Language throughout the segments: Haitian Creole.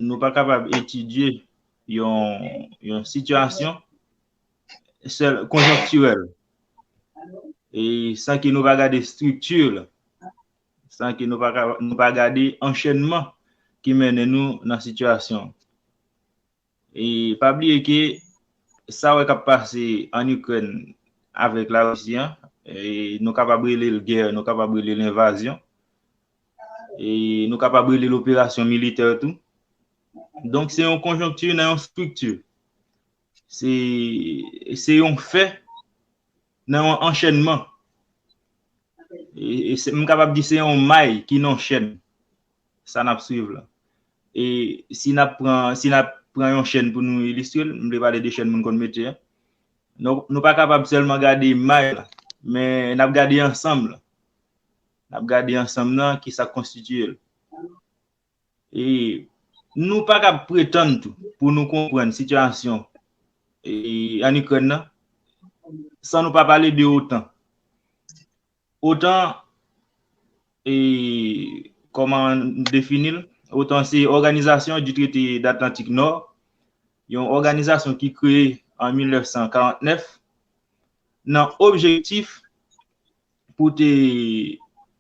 nou pa kapab etidye yon sitiyasyon sèl konjonktirèl e san ke nou pa gade estrikti l, san ke nou pa gade anchènman ki mennen nou nan sitiyasyon. E pa bliye ke sa wè k ap pase an Ikrèn avèk Larisi an, nou kapab rele l gè, nou kapab rele l envazyon, e nou kapab rele l operasyon militè tou. Donk se yon konjonkti nan yon estrikti. Se yon fè nan yon anchènman. M kapab di se yon may ki nan yon chèn sa n ap swiv la. E si n ap pran yon chèn pou nou ilistre l, m vle pale de chèn moun konn metye a, nou pa kapab sèlman gade may la, men n ap gade ansanm la. N ap gade ansanm nan ki sa k konstitiye l. E nou pa kab pretann tou pou nou konprann sitiyasyon ann Ikrèn nan san nou pa pale de otan. Otan, kòman n defini l? Otan se Organisation du Traité de l'Atlantique Nord, yon òganizasyon ki kreye an 1949 nan objektif pou te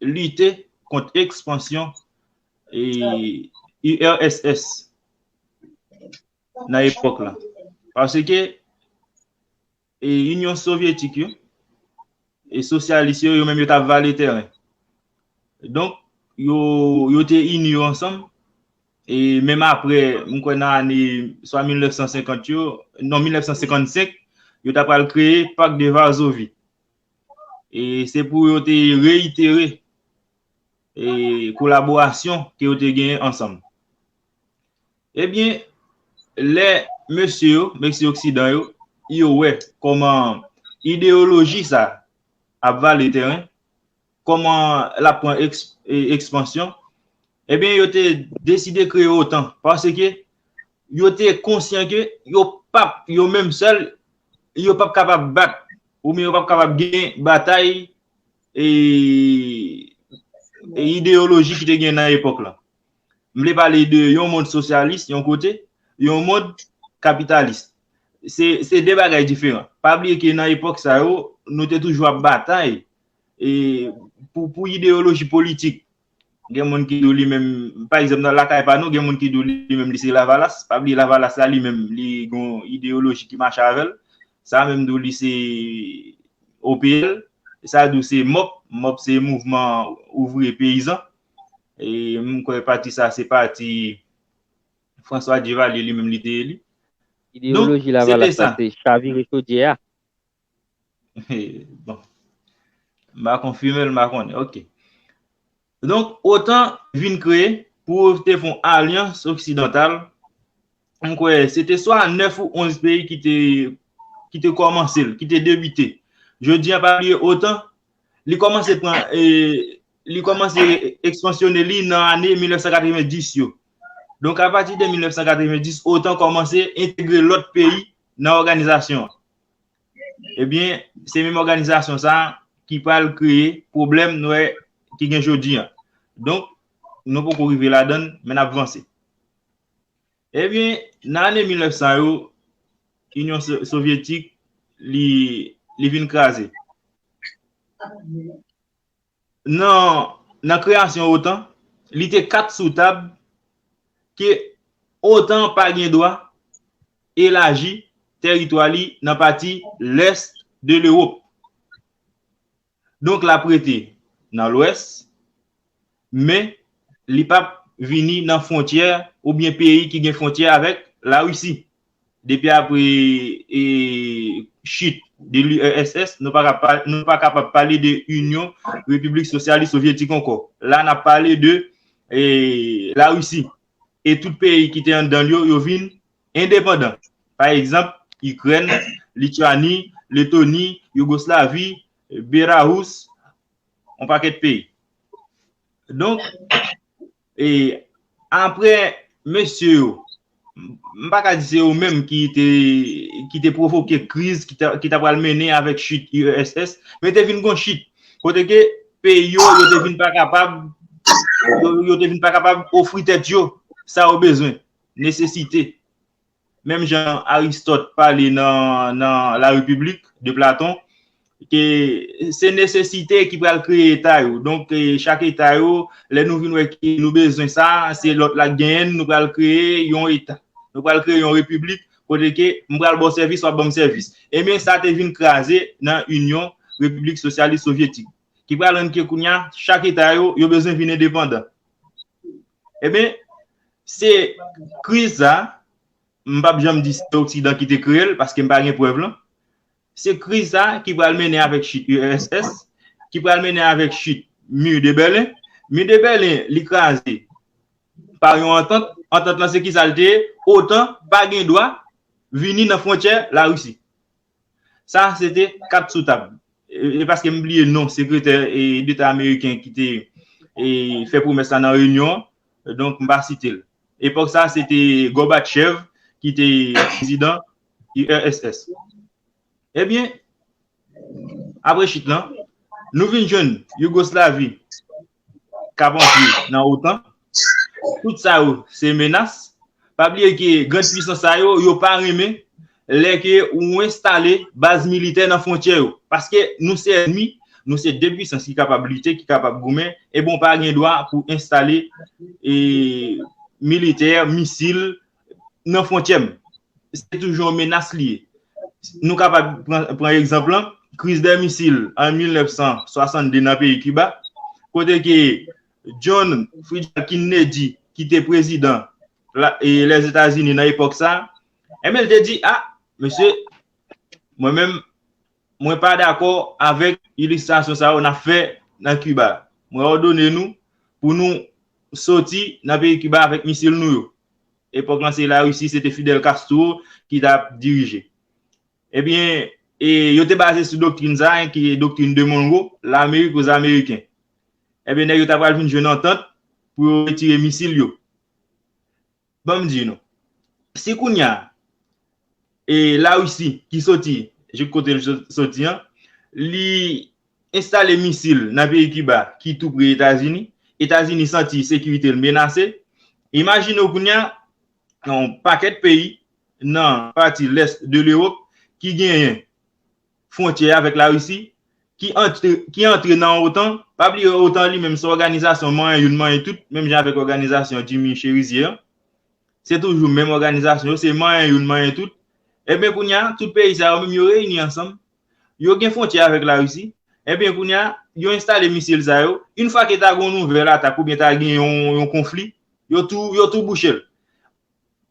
lite kont ekspansyon URSS nan epòk la. Paske Inyon Sovyetik yo e sosyalis yo, yo menm yo t ap vale tèren. Donk, yo te ini yo ansanm e menm apre, m kwè nan ane swa 1950 yo, non 1955, yo ta pral kreye Pak de Varzovi. e se pou yo te reyitere e kolaborasyon ke yo te genyen ansanm. Ebyen, lè mesye yo, mesye oksidan yo, yo wè kòman ideyoloji sa ap vale teren, kòman l ap pran ekspansyon, ebyen yo te deside kreye otan paske yo te konsyan ke yo pap, yo menm sèl, yo pap kapab bat oubyen yo pap kapab gen batay ideyoloji ki te gen nan epòk la. M vle pale de yon mond sosyalis yon kote, yon mond kapitalis. Se de bagay diferan. Pa bliye ke nan epòk sa yo, nou te toujou ap batay e pou ideyoloji politik gen moun ki do li menm pa egzanp nan lakay pa nou gen moun ki do li menm li se lavalas pa bli lavalas la li menm li gon ideyoloji ki mache avèl sa menm do li se OPL sa do se mop mop se mouvman ouvri peyizan e moun kwe pati sa se pati François Duvalier li menm li te eli ideyoloji lavalas la se chavire chodyè a Bon. M pa konfime l, m pa konnen. Ok. Donk, otan vin kreye pou yo te fon alyans oksidantal. M kwè se te swa 9 ou 11 peyi ki te ki te kòmanse l, ki te debite. Jodi an pa bliye otan li kòmanse pran e li kòmanse ekspansyone li nan ane 1990 yo. Donk apati de 1990 otan kòmanse entegre lòt peyi nan òganizasyon an. Ebyen se menm òganizasyon sa ki pral kreye pwoblèm nou wè ki gen jodi an. Donk nou poko rive ladann men nap vanse. Ebyen nan ane 1900 yo Inyon Sovyetik li vin kraze. Nan nan kreyasyon otan, li te kat sou tab ke otan pa gen dwa elaji tèritwa li nan pati lès de Lewop. Donk l ap rete nan lwès, men li p ap vini nan fwontyè oubyen peyi ki gen fwontyè avèk Larisi. Depi apre chit de l'URSS, nou pa kapab pale de Inyon Repiblik Sosyalis Sovyetik ankò. La n ap pale de Larisi. E tout peyi ki te anndan l yo, yo vin endepandan. Pa egzanp, Ikrèn, Lityani, Letoni, Yougoslavi, Berahous, yon pakèt peyi. Donk, E apre mesye yo, m pa ka di se yo menm ki te pwovoke kriz ki ta pral mennen avèk chit URSS, men te vin gon chit. Kote ke peyi yo, yo te vin pa kapab, yo te vin pa kapab ofri tèt yo sa yo bezwen, nesesite. menm jan Aristot pale nan La Republique de Platon, ke se nesesite ki pral kreye eta yo. Donk, chak eta yo, lè nou vin wè ke nou bezwen sa, se lòt la ki genyen l, nou pral kreye yon eta. Nou pral kreye yon repiblik kote ke m pral ba w sèvis, w ap ban m sèvis. Enben, sa te vin kraze nan Inyon Repiblik Sosyalis Sovyetik, ki pral rann ke kounye a, chak eta yo, yo bezwen vin endepandan. Eben, se kriz sa, m pap janm di se oksidan ki te kreye l, paske m pa gen prèv lan, se kriz sa ki pral mennen avèk chit URSS, ki pral mennen avèk chit Mur de Berlin. Mur de Berlin, li kraze pa yon antant, antant lan se ki sa l te ye? Otan pa gen dwa vini nan fwontyè Larisi. Sa a se te kat sou tab. E paske m bliye non sekretè deta ameriken ki te fè pwomès la nan reyinyon an, donk m pa site l. Epòk sa a se te Gòbatchèv ki te prezidan URSS. Ebyen, apre chit lan, nou vin jwenn Yougoslavi kap antre nan otan, tout sa yo se menas, pa bliye ke grand pwisans sa yo, yo pa renmen lè ke ou enstale baz militè nan fwontyè yo, paske nou se ènmi, nou se 2 pwisans ki kapab lite, ki kapab goumen, e bon pa gen dwa pou enstale militè, misil, nan fwontyè m. Se toujou yon menas li ye. Nou kapab pran egzanp lan, kriz dè misil an 1962 nan peyi Kiba, kote ke John Fridjal Kinnedy ki te prezidan Lèzetazini nan epòk sa, enben l te di, a, mesye, mwen menm, Mwen pa dakò avèk ilistrasyon sa yo n ap fè nan Kiba. Mwen òdone nou pou nou soti nan peyi Kiba avèk misil nou yo. Epòk lan se Larisi, se te Fidel Castro ki t ap dirije. Ebyen, yo te baze sou doktrin sa a ki doktrin de Monro, Lamerik o zameriken. Ebyen, nèg yo ta pral vin jwenn antant pou yo retire misil yo. Ban m di nou, si kounye a, e Larisi ki soti jouk kote l soti an, li enstale misil nan peyi Kiba ki tou pre Etazini, Etazini santi sekirite l menase, imajine w kounye a, yon pakèt peyi nan pati lès de Lewop ki genyen fwontyè avèk Larisi, ki antre nan otan, pa bliye otan li menm se òganizasyon manyen youn manyen tout, menm jan avèk òganizasyon Jimmy Cherizier an, se toujou menm òganizasyon yo, se manyen youn manyen tout, enben kounye a, tout peyi sa yo menm yo reyini ansanm, yo gen fwontyè avèk Larisi, enben kounye a, yo enstale misil sa yo, yn fwa ke ta gen yon nouvèl atak oubyen ta gen yon konfli, yo tou bouche l.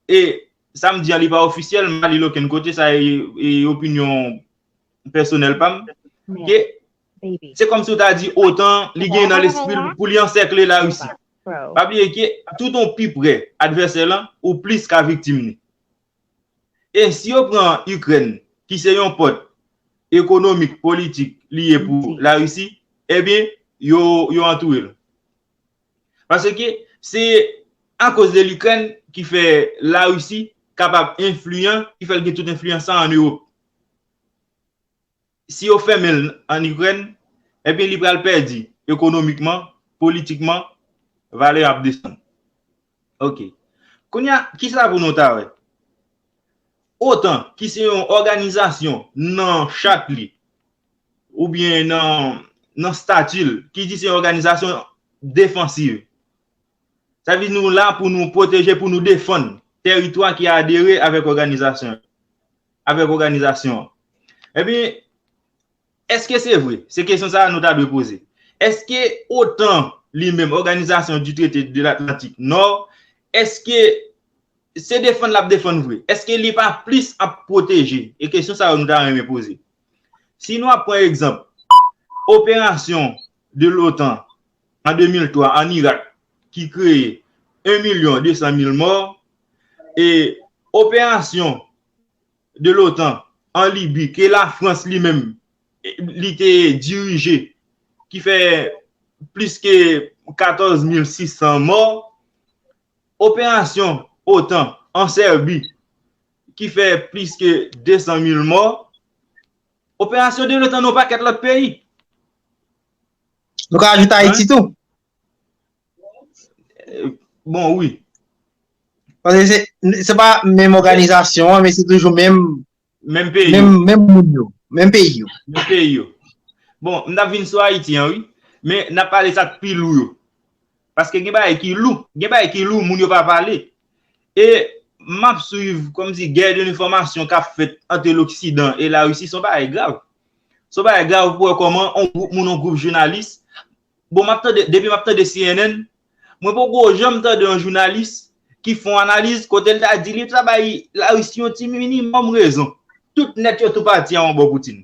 E sa m di an li pa ofisyèl, m pa li l okenn kote, sa e opinyon pèsonèl pa m. Ke se kòm si w ta di otan li gen nan lespri l pou li ansèkle Larisi. Pa bliye ke tout ou pi pre advèsè lan, ou plis ka viktim li. E si yo pran Ikrèn ki se yon pòt ekonomik, politik li ye pou Larisi, ebyen yo antoure l. Paske se akoz de Likrèn ki fè Larisi kapab enfliyan, ki fè l gen tout enfliyan sa a ann Ewop. Si yo fèmen l ann Ikrèn, ebyen li pral pèdi ekonomikman, politikman, valè yo ap desann. Ok. Kounye a, kisa pou nou ta wè? Otan, ki se yon òganizasyon nan chat li, oubyen nan stati l ki di se yon òganizasyon defansiv. Sa vle di nou la pou nou pwoteje, pou nou defann teritwa ki adere avèk òganizasyon an. Ebyen, èske se vre? Se kesyon sa a nou ta dwe poze. Èske otan li menm, Organisation du Traité de l'Atlantique Nord, èske se defann l ap defann vre? Èske li pa plis ap pwoteje? E kesyon sa yo nou ta renmen poze. Si nou ap pran egzanp operasyon de l'OTAN an 2003 an Irak ki kreye 1 milyon 200 mil mò e operasyon de l'OTAN an Libi ke Lafrans li menm li te dirije ki fè plis ke 14 mil 600 mò, operasyon otan an Sèbi ki fè plis ke 200 mil mò, operasyon de l'OTAN nan yon pakèt lòt peyi. Nou ka ajoute Ayiti tou. Bon, wi. Se pa menm oganizasyon an, men se toujou menm peyi yo. Menm peyi yo. Menm peyi yo. Bon, m ta vin sou Ayiti an, wi. Men, na pale sa k pi lou yo. Paske gen bagay ki lou. Gen bagay ki lou moun yo pa pale. E m ap swiv kòm si gè de enfòmasyon k ap fèt ante loksidan e larisi se yon bagay grav. Se yon bagay grav pou wè kòman yon gwoup moun, yon gwoup jounalis, bon m ap tande, depi m ap tande cnn, mwen poko janm tande yon jounalis ki fè yon analiz kote l ta di li ta bay larisi yon ti minimòm rezon. Tout nèt yo tou pati a yon bò Poutine.